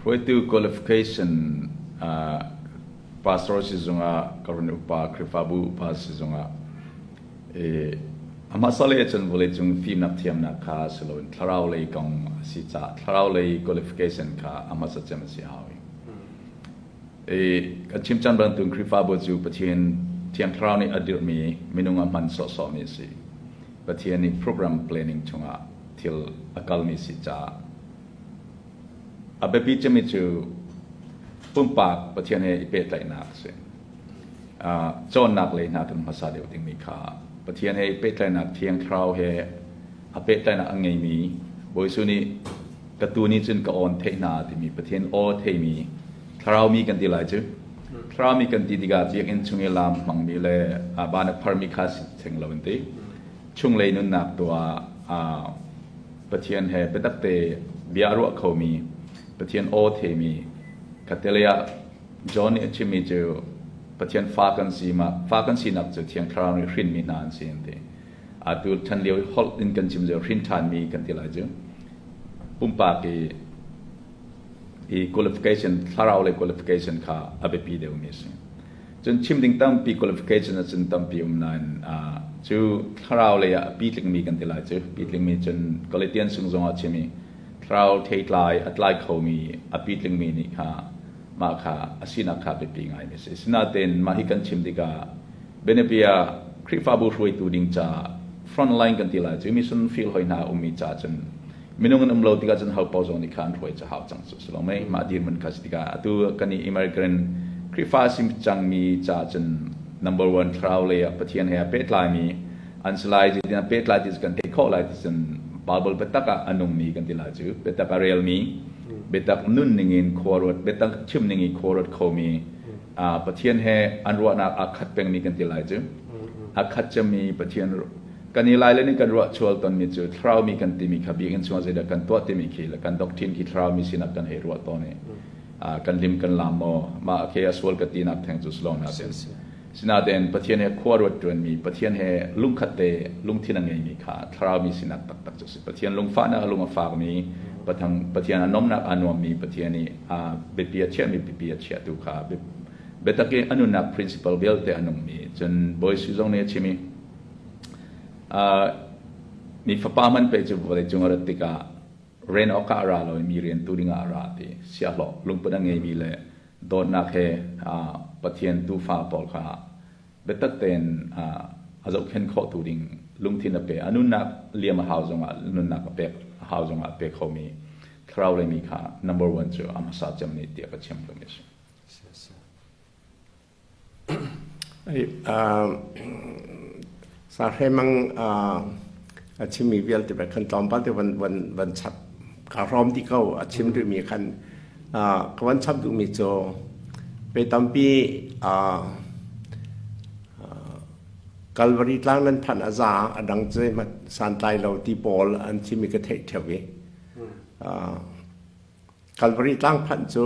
Hruaitu qualification pastor sizung ah ka run upa Khrihfabu upa sizung ah ahmasale cun vawleicung fimnak thiamnak kha si loin thlarau lei kong a si caah thlarau lei qualification kha ahmasa cem a si hau i kan chimcan bantuk Khrihfabu cu Pathian thiang thlarau nih a dirhmi minung a hman sawhsawhmi a si Pathian nih program planning chungah thil a kalmi si caah A biapi cemi cu pumpak Pathian he i pehtlaihnak a si. Uh, cawnnak lei hna kan hmasa deuh dingmi kha Pathian he i pehtlaihnak thiang thlarau he a pehtlaihnak a ngeimi Bawi Jesuh nih ka tu nih cun ka awn theih hna timi Pathian aw theimi thlarau mi kan ti lai cu thlarau mi kan ti tikah ciakin chung i lam hmangmi le ban a pharmi kha si theng lo in ti chunglei nunnak tuah Pathian he biatakte bia a ruah khomi, Pathian aw themi kha tilei ah John nih a chimmi cu Pathian fa kan si ma fa kan sinak cu thiang thlarau nih hrinmi hna an si an ti. Atu ṭhan lio holh in kan chim cio hrin ṭhanmi kan ti lai cu. Pumpak i i qualification thlarau le qualification kha a biapi deuhmi a si. Cun chim ding tampi qualification ah cun tampi um nain cu thlarau lei ah a pi tlikmi kan ti lai cu. Pi tlikmi cun Galatians sung zongah chim i thlarau theitlai a tlai khomi a pi tlikmi nih kha mah kha a sinak kha biapi ngaimi a si. Sinain mah hi kan chim tikah bianapi ah Khrihfabu hruaitu ding ca frontline kan ti lai cu. Mission field hoi hna a ummi ca cun minung an um lo tikah cun hopo zong nih kha an hruai cahau cang cu si lo mei mah dirman kha tikah atu kan i immigrant Khrihfa sim cangmi ca cun number one thlarau lei ah Pathian he a pehtlaimi an si lai ti tiah pehtlai ti kan theih khawh lai ti cun Bible biatak ah a nungmi kan ti lai cu biatak a relmi biatak nun ningin khuaruat biatak thim ningin khuaruat khomi Pathian he an ruahnak aa khat pengmi kan ti lai cu a khat cemmi Pathian kan i lailin in kan ruahchual tonmi cu thlarau mi kan timi kha biakinn chungah zeidah kan tuah timi khi le kan doctrine khi thlarau mi sinah kan hei ruah tawn i uh, kan lim kan laam maw mah khi a sual ka tinak theng cu slong na sin sinaden pathian he khua ruat ṭuanmi pathian he lungkhat te lungthin a ngeimi kha thlarau mi sinak taktak cu si pathian lungfahnak a lung a fakmi patang pathian a nomnak a nuammi pathian i a biapi a chiahmi biapi a chiahtu kha biatak i a nunnak principle vialte a nungmi cun bawi suzong nih a chim i Mi fapa man pe cu vawleicung a rat tikah ren awkah a ra lo i mi rian tu dingah a ra ti siahlaw lungput a ngeimi le dawtnak he Pathian tuufa pawl kha biatak tein a zohkhenh khawhtu ding lungthin a pe a nunnak liam a hau zongah nunnak a pek a hau zongah a pe khomi thlarau lei mi kha number one cu a hmasa cem nih tiah ka chim ka mi a si. Sahremang a chimmi vialte pek khan tlawmpal te van chap kaa hrawm ti ko a chim duhmi khan ka van chap duhmi cu pe tampi Calvary tlang nan phanh a za a dang zeihmanh santlai lo ti pawl an chimmi ka theih theo i Kalvari tlang phanh cu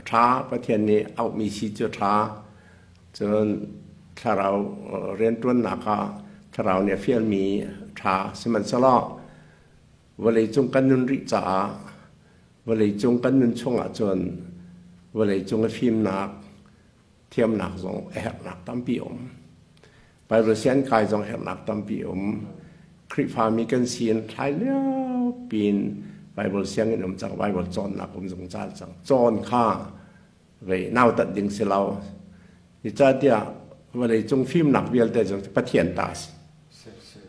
a ṭha. Pathian nih a ukmi si cu a ṭha. Cun thlarau rianṭuannak ah thlarau nih a fialmi a ṭha. Sihmanhsehlaw vawleicung kan nun rih caah vawleicung kan nun chungah cun vawleicung i fimnak thiamnak zong a herhnak tampi a um. Baibal siankai zong herhnak tampi a um. Khrihfami kan si in thlai lio pin Baibal sianginn um cang, Baibal cawnnak um zungzal cang. Cawn kha vei nautat ding si lo. Icatiah vawlei cung fimnak vialte cu Pathian ta si.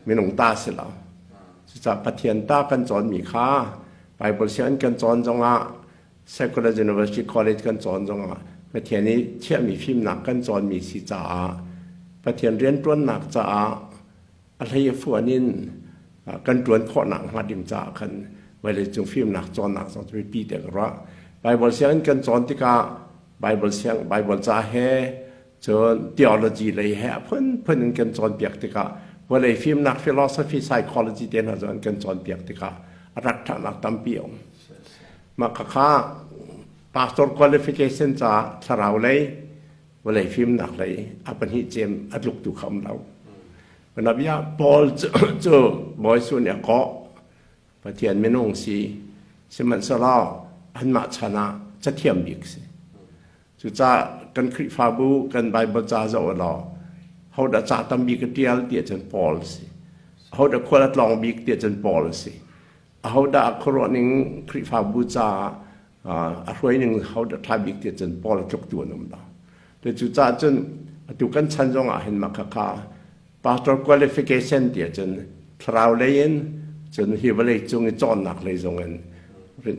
Minung ta si lo. Cucah Pathian ta kan cawnmi kha Baibal sianginn kan cawn zongah Secular University College kan cawn zongah Pathian i chiahmi fimnak kan cawnmi si caah Pathian rianṭuannak caah a hlei a fuan in kan ṭuan khawhnak hnga ding caah khan vawleicung fimnak cawnnak zong cu biapi te ka ruah. Baibal sianginn kan cawn tikah Baibal siang Baibal ca he Cun theology lei he a phunphun in kan cawnpiak tikah vawlei fimnak philosophy psychology te hna zawn kan cawnpiak tikah a rat ṭhanak tampi a um. Mah khakha pastor qualification caah thlarau lei vawlei fimnak lei a pahnih cem a tluk tu kha um lo. Panabia Paul cu, cu bawi sun ya ko Pathian minung si sihmanhsehlaw anmah chan ah cathiam bik si. Cucaah kan Khrihfabu kan Baibal ca zoh u law hodah a cah tam bik a ṭial tiah cun Paul a si. Hodah khual a tlawng bik tiah cun Paul a si. Ahodah a khuaruah ning Khrihfabu caah a hruai ning hodah ṭha bik tiah cun Paul a tluktu an um lo. Cucaah cun atu kan chan zongah hin mah khakha pastor qualification ti ahcun thlarau lei in cun hi vawlei cung i cawnnak lei zong in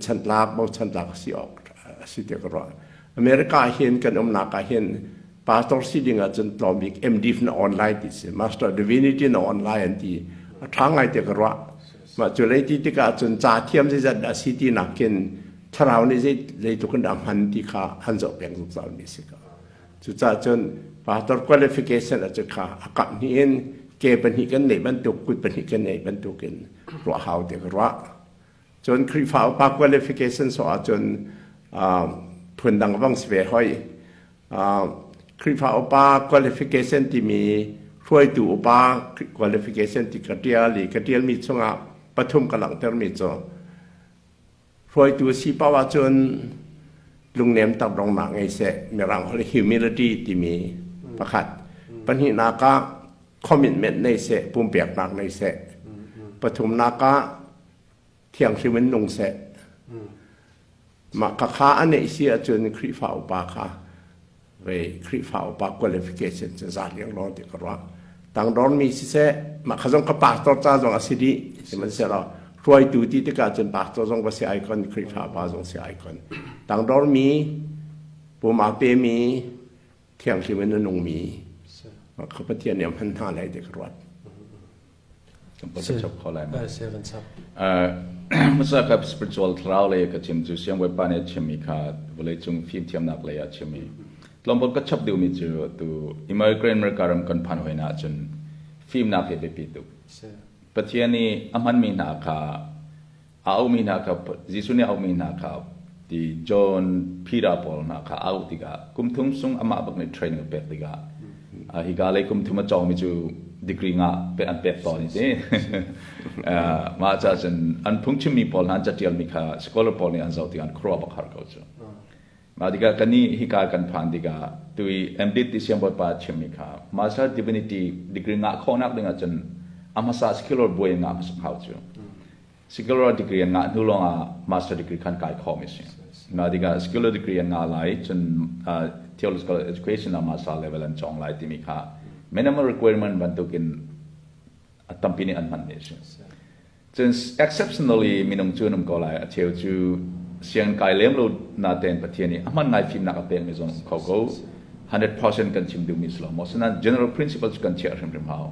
chantlak bochantlak si awk a si tiah ka ruah America ah hin kan umnak ah hin pastor si ding ahcun tlawmbik MDiv na on lai ti si master divinity na on lai an ti a ṭha ngai tiah ka ruah mah cu lei ti tikah cun ca thiam zeizat dah si ti nakin thlarau nih zei zeitluk in dah hman ti kha an zoh peng zungzal mi si ka Cucaah cun pastor qualification a cu kha a kap hnih in ke pahnih kan neih bantuk kut pahnih kan neih bantuk in ruah hau te ka ruah. Cun Khrihfa upa qualification so ah cun uh, phun dang bang si ve hoi. Uh, Khrihfa upa qualification timi hruaitu upa qualification ti ka tial i ka tialmi chungah pathum ka langhtermi cu hruaitu si poh ahcun lungnem tak rongnak ngei seh mirang holh humility timi pakhat pahnihnak ah commitment nei seh pumpeknak nei seh pathumnak ah thianghlim in nung seh mah ka kha a neih si ahcun Khrihfa upa kha ve Khrihfa upa qualification cu za liang lo ti ka ruah tang don mi si se ma kha zong ka pastor ca zong a si di sihmanhsehlaw hruaitu ti tikah cun pastor zong va si icon Khrihfa pa zong si icon tang don mi puma pe mi thianghlim in nung mi kha pathian nih hman hna lai ti ka ruat Masa ka spiritual thlarau le ka chim cu siang Bawipa nih chimmi kha vawlei cung fimthiamnak lei ah chimmi tlawmpal ka chap deuhmi cu tu immigrant America ram kan phan hoina ahcun fimnak hi biapi tuk Pathian nih a hmanmi hna kha A aumi hna kha Jesuh nih a aumi hna kha ti John phira pawl hna kha a auh tikah kum thum sung amah bak nih training a pek tikah uh, hika lei kum thum a cawngmi cu degree nga pek an pek tawn i ti mah ca cun an phungchimmi pawl hna an catialmi kha scholar pawl nih an zoh tikah an khuaruah bakhar ko cu Mah tikah kan nih hika kan phan tikah tu i MDitt ti siangbawipa chimmi kha Master Divinity degree ngah khawhnak ding ahcun a hmasa secular buai ngah a si hau cu. Secular degree an ngah hnu lawngah Master degree khan kai khawm a si. Mah tikah secular degree an ngah lai cun uh, theological education a Master level an cong lai timi kha minimum requirement bantukin tampi nih an hmanmi a si. Cun exceptionally minung cu nam ko lai a cheu cu siang kai lem lo na ten pathian i a hman ngai fimnak a pekmi zong um kho ko 100% kan chim duhmi si lo maw sina general principles kan chiah hrimhrim hau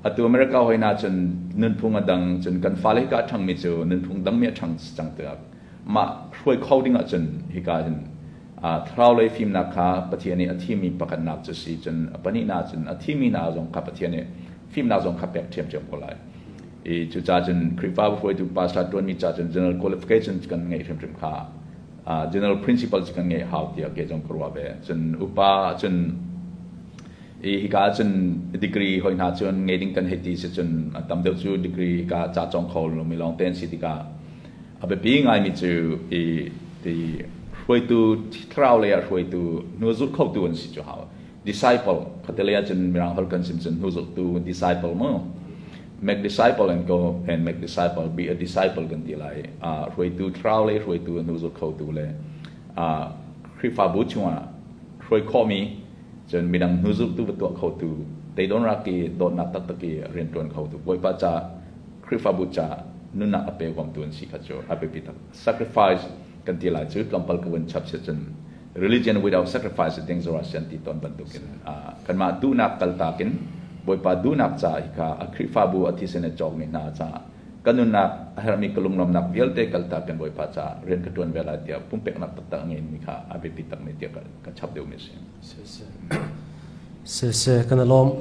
atu america hoi na cun nunphung a dang cun kan fale hika thangmi cu nunphung dangmi a thang cang tiak ma hruai kho ding ah cun hika hin thlaraulei fimnak kha Pathian nih a thimi pakhatnak cu si cun a pahnihnak cun a thimi hna zong kha Pathian nih fimnak zong kha pek ṭhiamṭhiam ko lai. I cucaah cun Khrihfabu hruaitu pastor ṭuanmi ca cun general qualification cu kan ngeih hrimhrim kha general principal cu kan ngeih hau tiah kei zong ka ruah ve. Cun upa cun i hika cun degree hoi hna cun ngei ding kan hei ti si cun a tam deuh cu degree hika ca cawng kho lomi lawng te an si tikah A biapi ngaimi cu i ti hruaitu thlarau lei ah hruaitu hnu zulh khotu an si cu hau. Disciple khatelei ah cun mirang hal kan sim cun hnu zulhtu disciple mu. Make disciple and go and make disciple be a disciple kan ti lai. Uh, hruaitu thlarau lei hruaitu hnu zulh khotu le uh, Khrihfabu chungah hruai khomi cun midang hnu zulhtu va tuah khotu teidon raki dawtnak taktak i rian tuan khotu bawipa ca Khrihfabu caah nunnak a pe huamtu an si kha cu a biapi tuk. Sacrifice kan ti lai cu tlawmpal ka vun chap si cun religion without sacrifice ding zor ah si an ti tawn bantukin kanmah duhnak kaltak in Bawipa duhnak caah hi kha a Khrihfabu a thisen a cawkmi hna caah ka nunnak a herhmi ka lunglawmnak vialte kaltak in Bawipa caah rian ka ṭuan ve lai tiah pumpeknak taktak a ngeimi kha a biapi takmi tiah ka chap deuhmi a si. Siseh, kan i lawm.